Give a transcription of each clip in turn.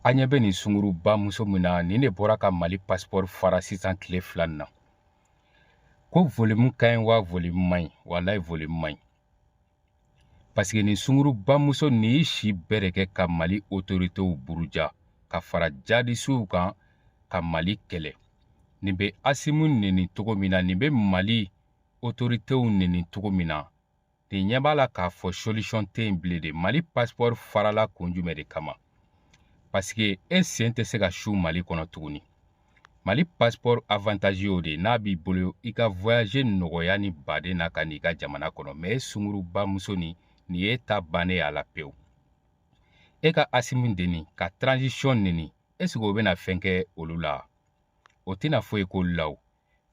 an ɲɛ bɛ nin sunguruba muso min na nin de bɔra ka mali pasipɔri fara sisan tile fila nin na ko volimu ka ɲi wa volimu man ɲi walayi volimu man ɲi paseke nin sunguruba muso nin y'i si bɛɛ de kɛ ka mali otoritew buruja ka fara jadisiw kan ka mali kɛlɛ nin bɛ asimu neni cogo min na nin bɛ mali otoritew neni cogo min na nin ɲɛ b'a la k'a fɔ solution tɛ yen bilen de mali pasipɔri farala kun jumɛn de kama pasike e sen tɛ se ka su mali kɔnɔ tuguni mali pasipɔri avantazi y'o de n'a b'i bolo i ka voyaje nɔgɔya ni baden na ka n'i ka jamana kɔnɔ mɛ e sunguruba muso ni nin ye ta bannen y'a la pewu e ka asimu neni ka transition neni esike o bɛna fɛn kɛ olu la o tɛna foyi k'olu la o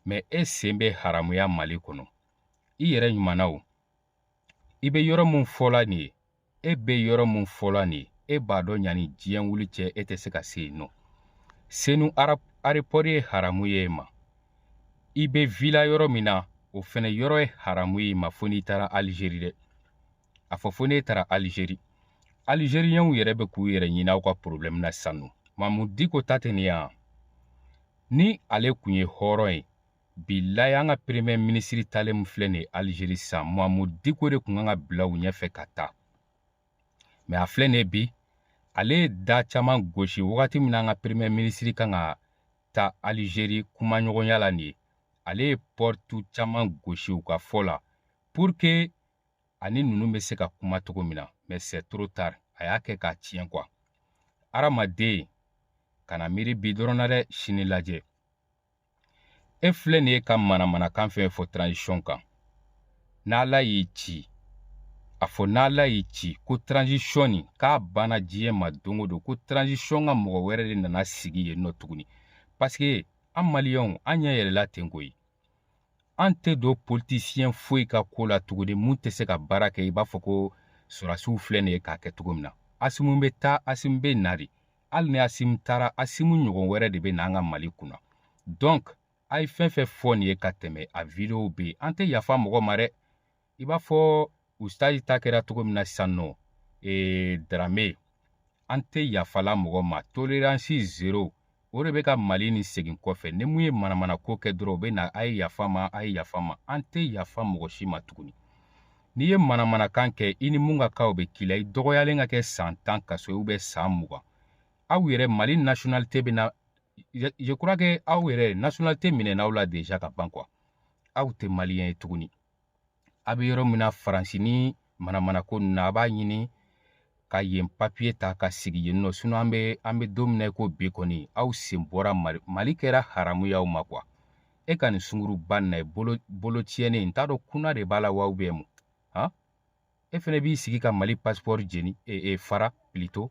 mɛ e sen bɛ haramuya mali kɔnɔ i yɛrɛ ɲumanna o i bɛ yɔrɔ min fɔla nin ye e bɛ yɔrɔ min fɔla nin ye e b'a dɔn yanni diɲɛ wuli cɛ e tɛ se ka se yen nɔ senu arepɔri ye haramu y'i ma i bɛ vila yɔrɔ min na o fana yɔrɔ ye haramu y'i ma fo n'i taara alizeri dɛ a fɔ fo n'e taara alizeri alizeriyɛnw yɛrɛ bɛ k'u yɛrɛ ɲini aw ka porobilɛmu na sisan nɔ mamu diko ta tɛ nin ye wa ni ale kun ye hɔrɔn ye bilayi an ka peremɛ minisiri taalen min filɛ nin ye alizeri sisan mamu diko de kun kan ka bila u ɲɛfɛ ka taa mɛ a filɛ nin ye bi ale ye da caman gosi wagati min na an ka peremɛ minisiri kan ka taa alizeri kumaɲɔgɔnya la nin ye ale ye pɔritu caman gosi u ka fɔ la purke an ni ninnu bɛ se ka kuma cogo min na mɛ sɛ toro tari a y'a kɛ k'a tiɲɛ kuwa hadamaden kana miiri bi dɔrɔn na dɛ sini lajɛ e filɛ nin ye ka manamanakan fɛn fɔ transition kan n'ala y'i ci a fɔ n'ala y'i ci ko transition nin k'a banna diɲɛ ma don o don ko transition ka mɔgɔ wɛrɛ de nana sigi yen nɔ tuguni parce que an maliyɛnw an ɲɛ yɛlɛla ten koyi an tɛ don politisiyɛn foyi ka ko la tuguni mun tɛ se ka baara kɛ i b'a fɔ ko sɔrɔdasiw filɛ nin ye k'a kɛ cogo min na asimu bɛ taa asimu bɛ na de hali ni asimu taara asimu ɲɔgɔn wɛrɛ de bɛ na an ka mali kunna donc a ye fɛn fɛn fɔ nin ye ka tɛmɛ a videow bɛ yen an tɛ yafa mɔgɔ ma dɛ i b'a fɔ ustazi ta kɛra cogo min na sisan nɔ ee darame an tɛ yafala mɔgɔ ma toleransi zero o de bɛ ka mali nin segin kɔfɛ ni mun ye manamana ko kɛ dɔrɔn u bɛ na a ye yafa ma a ye yafa ma an tɛ yafa mɔgɔ si ma tuguni n'i ye manamanakan kɛ i ni mun ka kan o bɛ k'i la i dɔgɔyalen ka kɛ san tan kaso ye ubiyɛn san mugan aw yɛrɛ mali nasiyonalite bɛna je crois que aw yɛrɛ nasiyonalite minɛna aw la deja ka ban quoi aw tɛ maliyɛn ye tuguni a bɛ yɔrɔ min na faransi ni manamanako ninnu na a b'a ɲini ka yen papiye ta ka sigi yen nɔ sinɔn an be an be don min na i ko bi kɔni aw sen bɔra mali mali kɛra haramu y'aw ma kuwa e ka nin sunguruba na ye bolo bolo tiɲɛnen n t'a dɔn kuna de b'a la wa ubiyɛn mun han e fɛnɛ b'i sigi ka mali pasipɔri jeni e, e fara pilito